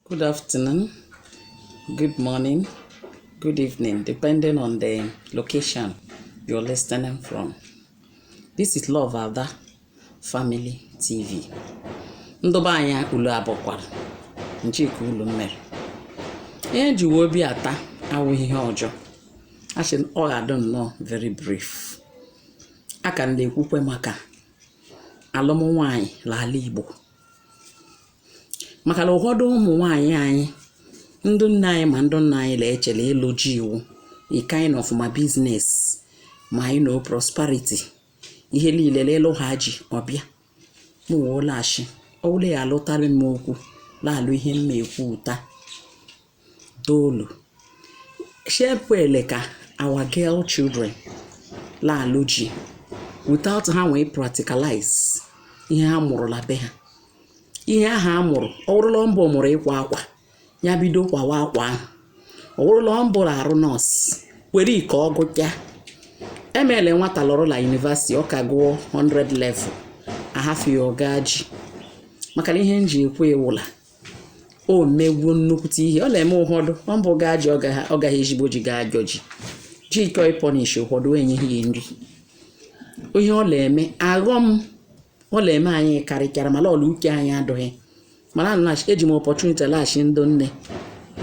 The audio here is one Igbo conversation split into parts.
Good afternoon, good morning, good evening, depending on the location you're listening from. This is Love Ada Family TV. Ndụ be anyị ulu abọkwara chi, kee ulu mere. Ihe m ji wee bịa taa awụghị ihe ọjọọ. Asị m ọ ga-adị nnọọ very brief. A ka m na-ekwukwe maka alụm nwaanyị n'ala Igbo. maka na ụfọdụ ụmụ nwaanyị anyị ndị nne anyị ma ndị nna anyị na-eche la ịlụ ji wụ a kind of ma biznes ma you know prosperity ihe niile la a lụhaa ji ọ bụ ya m wee la-asị ọ bụrụ ya alụtara m okwu na-alụ ihe m na-ekwu taa Toolu. Sị ekwele ka our girl children la-alụ ji without ha wee practicalize ihe ha mụrụ na be ha. Ihe ahụ a mụrụ, ọ bụrụ la ọ mbụ mụrụ ịkwa akwa, ya bido kwawa akwa ahụ. Ọ bụrụ la ọ mbụ la-arụ nọọsụ, kwere ka ọ gụchaa. Emele nwata lọrọ na yunivasiti, ọ ka gụọ 100 level, ahafụ ya ọ gaa ji. Maka na ihe m ji ekwu ya wụ la o mewo nnukwute ihe ọ na-eme ụfọdụ ọ mbụ gaa ji ọ gaghị ezigbo ji gaa ajọ ji ji chọọ ịpọnish ụfọdụ enyeghị ya nri ihe ọ na-eme aghọm ọ na-eme anyị karịchara mana la uche anyị adụghị mana eji m ọpọchuniti la-asị ndị nne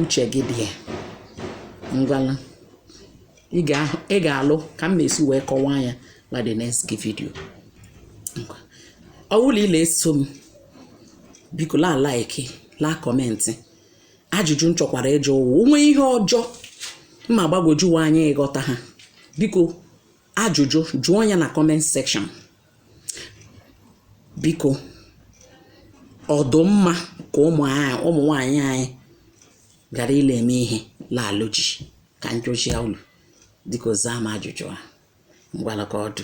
uche gị dị ya ngwala ị ga-alụ ka m ga-esi wee kọwaa ya na the next video ọ bụrụ la ị la-eso m biko la like la kọmentị ajụjụ m chọkwara ịjụ wụ o nwee ihe ọzọ ma gbagwojuwa anya ị ghọtaha biko ajụjụ jụọ ya na kọment sekshọn biko ọ dụ mma ka ụmụ nwaanyị anyị ghara ịla-eme ihe la-alụ ji ka m chọsịa ulu biko zaa m ajụjụ a ngwala ka ọ dụ.